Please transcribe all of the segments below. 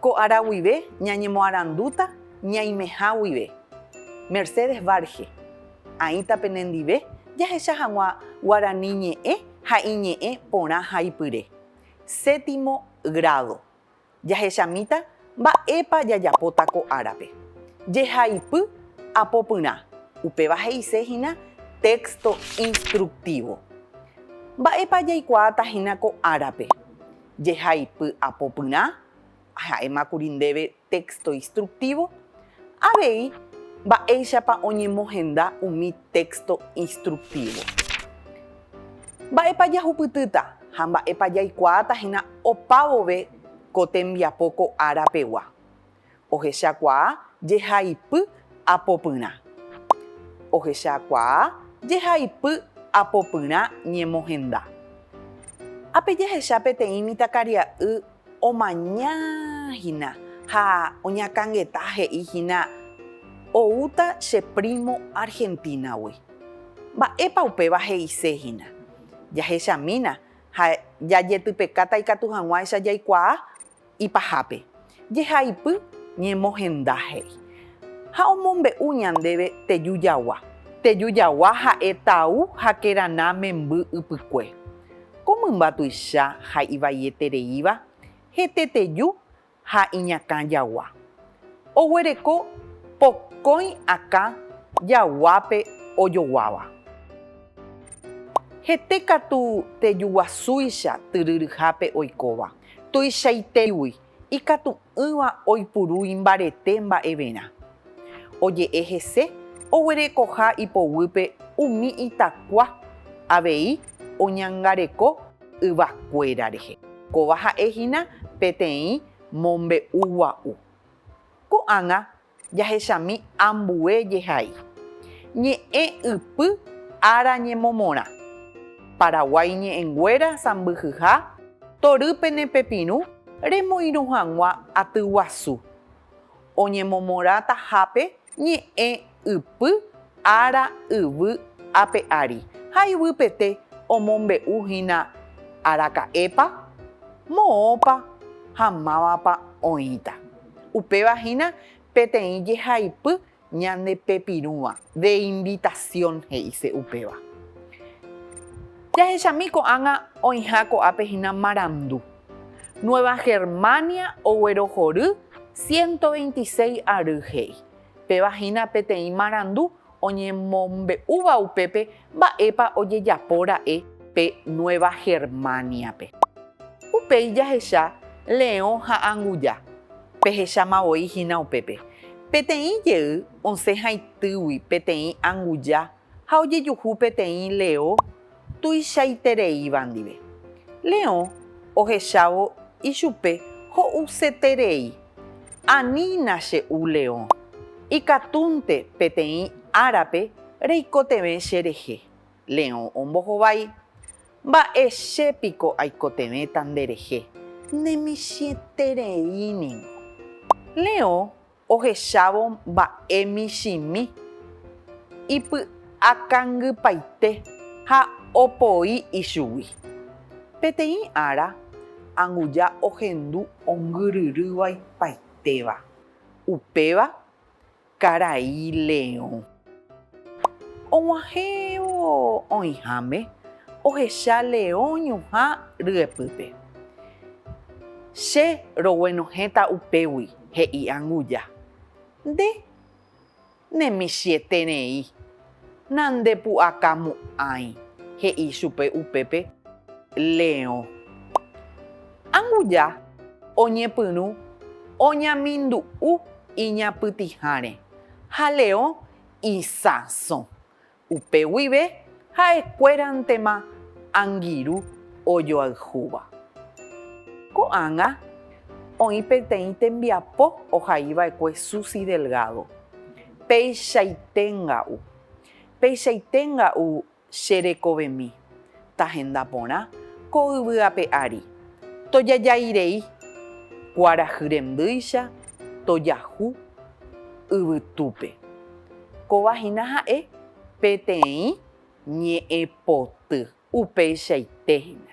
Ko ára guive ñañemoarandúta ñaimeha guive. Mercedes Varge, Aĩta penendive jahecha hag̃ua guarani ñe'ẽ ha iñe'ẽ porã ha ipyre. Séptimo grado. Jahechamíta mba'épa jajapóta ko árape. Jehaipy apopyrã, upéva he'ise hína texto instructivo. Mba'épa jaikuaáta hína ko árape? jehaipy apopyrã, aha'émakuri ndéve téxto instruktívo, avei mba'éichapa oñemohenda umi téxto instruktívo. Mba'épa jahupytýta ha mba'épa jaikuaáta hína opavove ko tembiapo ko ára pegua. Ohechakuaa jehaipy apopyrã. Ohechakuaa jehaipy apopyrã ñemohenda. Ha pe jahecha peteĩ mitãkaria'y omaña hína ha oñakãngeta he'i hína oúta che primo Argentina-gui. Mba'épa upéva he'ise hína? Jahechamína ha jajetypekáta ikatu hag̃uáicha jaikuaa ipahápe, jehaipy ñemohenda he'i, ha omombe'u ñandéve teju jagua. Teju jagua ha'e tau ha kerana memby ypykue. Ko mymba tuicha ha ivaietereíva hete teju ha iñakã jagua. Oguereko pokõi akã jaguápe ojoguáva. Hete katu teju guasúicha tyryryhápe oikóva. Tuichaitéigui ikatu'ỹva oipuru imbarete mba'everã. Oje'e hese oguerekoha ipoguýpe umi itakua avei oñangareko yvakuéra rehe. Kóva ha'e hína peteĩ mombe'u gua'u. Ko'ág̃a jahechami ambue jehai. Ñe'ẽ ypy ára ñemomorã. Paraguái ñe'ẽnguéra sãmbyhyha tory pene pepirũ remoirũ hag̃ua aty guasu. Oñemomorã tahápe ñe'ẽ ypy ára yvy ape ári ha yvypete omombe'u hína araka'épa, moõpa ha mávapa oĩta. Upéva hína peteĩ jehaipy ñande pepirũva, de invitación he'ise upéva. Jahechami ko'ág̃a oĩha ko'ápe hína marandu. Nueva Germania oguerohory ciento veintiséis ary he'i. Péva hína peteĩ marandu Oñemombe'úva upépe mba'épa ojejapo ra'e pe Nueva Germania-pe. Upéi jahecha Leõ ha Anguja. Pehecháma voi hína upépe. Peteĩ jey osẽ haitýgui peteĩ anguja ha ojejuhu peteĩ Leõ tuichaitereíva ndive. Leõ ohechávo ichupe ho'useterei, Anína che u leõ, ikatúnte peteĩ árape reikotevẽ che rehe. Leõ ombohovái, Mba'e che piko aikotevẽta nde rehe, ne michĩeterei ningo. Leõ ohechávo mba'e michĩmi, ipy'akangypaite ha opoi ichugui. Peteĩ ára, anguja ohendu ongyryrývaipaiteva, upéva karai leõ. Og̃uahẽvo oĩháme, ohecha leõ ñuhã ryepýpe. Che roguenohẽta upégui, he'i Anguja. Nde nemichĩeterei nandepu'akamo'ãi, he'i chupe upépe leõ. Anguja oñepyrũ oñamindu'u iñapytĩháre ha Leo isãso. Upe guive ha'ekuérantema angirũ ojoayhúva. Ko'ág̃a oĩ peteĩ tembiapo ohaiva'ekue susi delgado. Peichaite nga'u. Peichaite nga'u Che rekovemi, tahenda porã ko yvy ape ári, tojajái rei, kuarahy rendýicha tojahu yvytúpe. Kóva hína ha'e peteĩ ñe'ẽpoty. Upeichaite hína.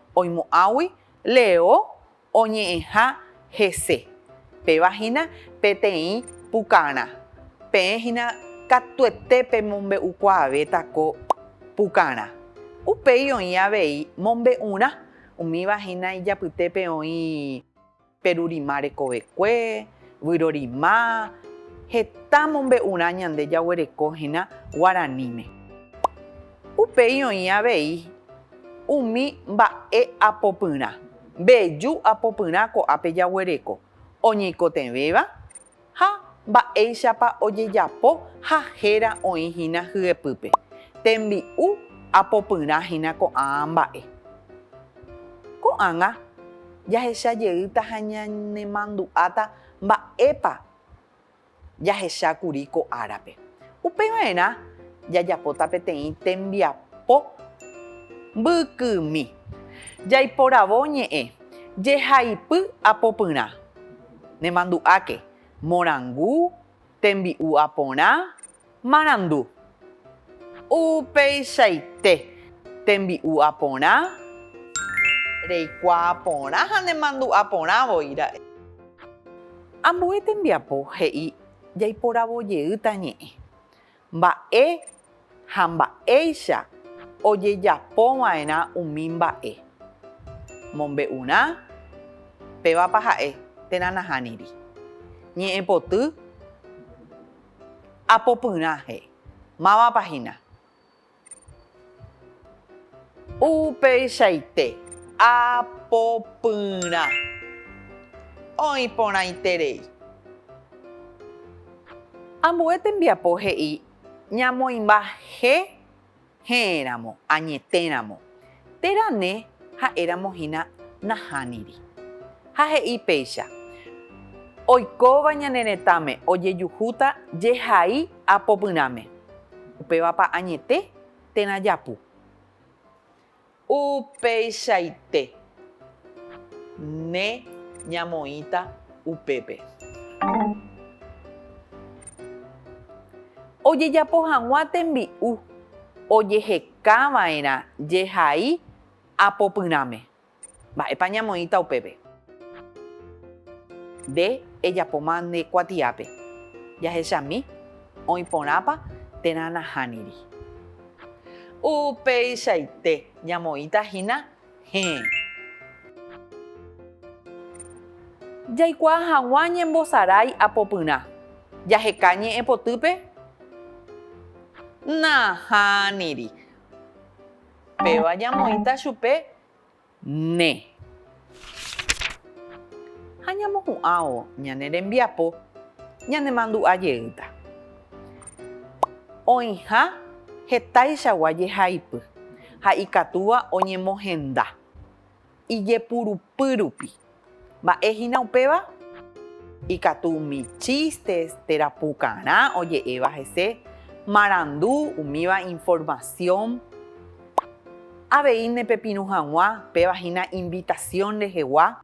oimo'ãgui Leo oñe'ẽha hese, péva hína peteĩ pukarã. Peẽ hína katuete pemombe'ukuaavéta ko pukarã. Upéi oĩ avei mombe'urã, umíva hína ijapytépe oĩ. Perurima rekovekue, vyrorima, heta mombe'urã ñande jaguereko hína guaraníme. Upéi oĩ avei umi mba'e apopyrã, mbeju apopyrã ko'ápe jaguereko, oñeikotevẽva ha mba'éichapa ojejapo ha héra oĩ hína hyepýpe, tembi'u apopyrã hína ko'ã mba'e. Ko'ág̃a jahecha jeýta ha ñanemandu'áta mba'épa jahecha kuri ko árape. Upe va'erã jajapóta peteĩ tembiapo mbykymi. Jaiporavo ñe'ẽ, jehaipy apopyrã. Nemandu'áke, morangu, tembi'u aporã, marandu. Upeichaite, tembi'u aporã, reikuaa porã ha nemandu'a porã voi ra'e. Ambue tembiapo he'i jaiporavo jeýta ñe'ẽ. mba'e ha mba'éicha ojejapova'erã umi mba'e. Mombe'urã pévapa ha'e térã nahániri. Ñe'ẽpoty apopyrãhe, mávapa hína Upeichaite apopyrã oĩ porãiterei. Ambue tembiapo he'i ñamoĩmba je he'ẽramo, añetéramo. Térã ne ha'éramo hína nahániri. Ha he'i péicha, Oikóva ñane retãme ojejuhúta jehai apopyrãme, upévapa añete térã japu. Upeichaite ne ñamoĩta upépe. Ojejapo hag̃ua tembi'u ojehekáva. Kava'erã jehai apopyrãme. Mba'épa ñamoĩta upépe? Nde ejapóma nde kuatiápe. Jahechami, oĩ porãpa térã nahániri. Upeichaite, ñamoĩta hína Héẽ. Jaikuaa hag̃ua ñembosarái apopyrã. Jaheka ñe'ẽpotýpe? Nahániri. Péva ñamoĩta chupe ne. Ha ñamohu'ãvo ñane rembiapo ñanemandu'a jeýta. Oĩha hetaichagua jehaipy. ha ikatúva oñemohenda ijepurupy rupi. Mba'e hína upéva? Ikatu umi chistes, térã pukarã oje'éva hese, marandu, umíva informasión. Avei nepepirũ hag̃ua, péva hína invitasión rehegua.